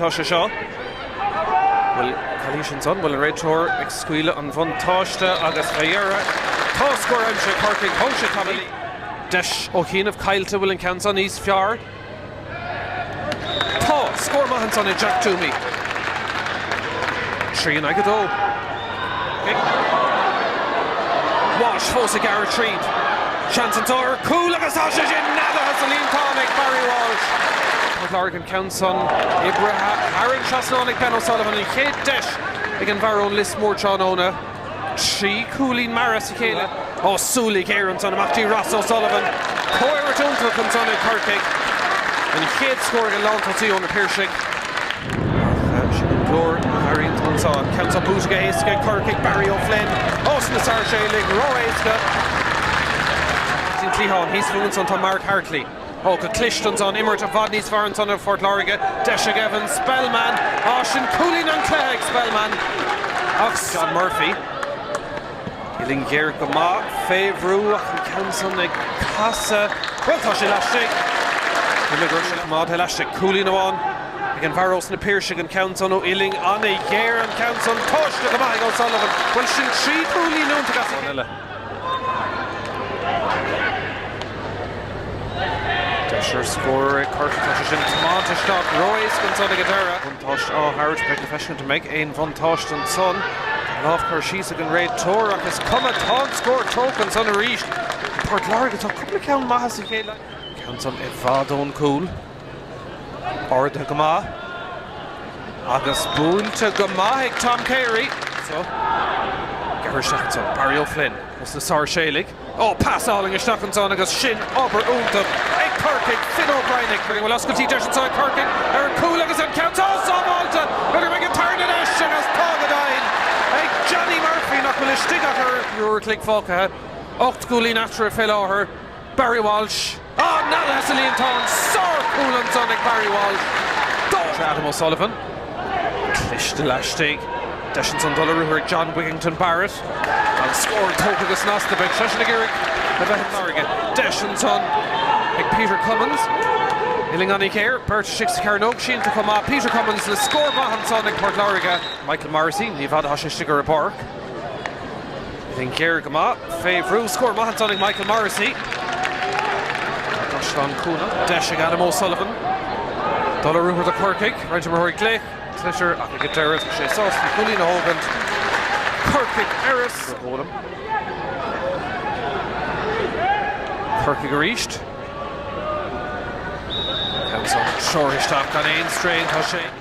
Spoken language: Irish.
Tá sé seo. Bhuel, calaois ansan, bhuel, an réiteoir ag scaoileadh an bhuntáiste agus fé dheireadh, tá scór aimsithe ag Corcaigh, thóg sé tamall léi. Deis ó chianaibh caillte, bhfuil an ceann san níos fearr? Tá scór maith ansan ag Jack Twomey, trí in aghaidh a dó. Walsh fós ag gearradh tríd, seans anso ar chúl agus tá sé sin neadaithe sa líontán ag Barry Walsh. Ceann san oibrithe thar an trasnán ag Ben O'Sullivan. An chéad deis ag an bhfear ón Lios Mór tráthnóna. Trí chúilín mear as a chéile ó súil ghéar ansan amach dtí Ross O'Sullivan. Comhimirt iontach ansan ag Corcaigh. An chéad scór ag an lántosaí ó na Piarsaigh. Ach sin an glór a tharraing an sá. Ceann san buaite go héasca ag Corcaigh, Barry O'Flynn ós na Sáirséalaigh ró-éasca. Sin cliathán thíos fúthu ansan tá Mark Hartley. Ó, go cliste ansan. Imirt i bhfad níos fearr ansan ó Phort Láirge. Deis ag Evan Spellman. Á, sin cúilín an chluiche ag Spellman. Ach John Murphy. Uillinn ghéar go maith fé bhrú ach an ceann san ag casadh. Bhuel, tá sé laistigh. Rinne Groarke a choimeád laistigh. Cúilín amháin ag an bhfear ós na Piarsaigh. An ceann san ó uillinn an-ghéar, an ceann san. Tomhaiste go maith ag O'Sullivan. Bhuel, sin trí chúilín iontacha as a chéile. Deis ar scór ag Corcaigh. Tá sé sin tiomáinte isteach ró-éasca ansan ag an deireadh. Buntáiste á thabhairt, beidh le feiscint an mbeidh aon bhuntáiste ansan. Lámh curtha síos ag an réiteoir ach is cuma, tá an scór tógtha ansan arís ag Port Láirge. Tá cúpla ceann maithe as a chéile. Ceann san i bhfad ón gcúl. Ardaithe go maith agus buailte go maith ag Tom Carey. Ceithre seachaint ann. Barry O'Flynn ós na Sáirséalaigh. Ó, pas álainn isteach ansan agus sin obair iontach ag Corcaigh. Finn O'Brien ag cur isteach. Bhfuil oscailt, deis anso ag Corcaigh ar an gcúl agus an ceann seo sábháilte! B'fhéidir go mbeidh an tarna deis agus tá go deimhin ag Johnny Murphy nach bhfuil istigh ach ceathrú uair an chloig fágtha. Ocht gcúilín eatarthu fé láthair. Barry Walsh, á bhualadh sa líontán. Sárchúl ansan ag Barry Walsh. Tá sé Adam O'Sullivan. Cliste laistigh. Deis ansan dul ar ruathar ag John Wigginton Barrett. An scór tógtha go snasta, beidh seisean ag iarraidh a bheith i Láirge. Deis ansan ag Peter Cummins. Uillinn an-ghéar, beirt istigh sa chearnóg, sínte chomh maith. Peter Cummins le scór maith ansan ag Port Láirge. Michael Morrissey, ní i bhfad atá sé istigh ar an bpáirc. Uillinn ghéar go maith fé bhrú. Scór maith ansan ag Michael Morrissey. Caisleán Cuanach, deis ag Adam O'Sullivan. Dul ar ruathar do Corcaigh, roinnt imreoirí ag glaoch, sliotar ach ag an deireadh tá sé sásta an cúilín a thógaint. Corcaigh arís á bhualadh. Corcaigh arís. Ceann san seolta isteach gan aon straidhn, tá sé.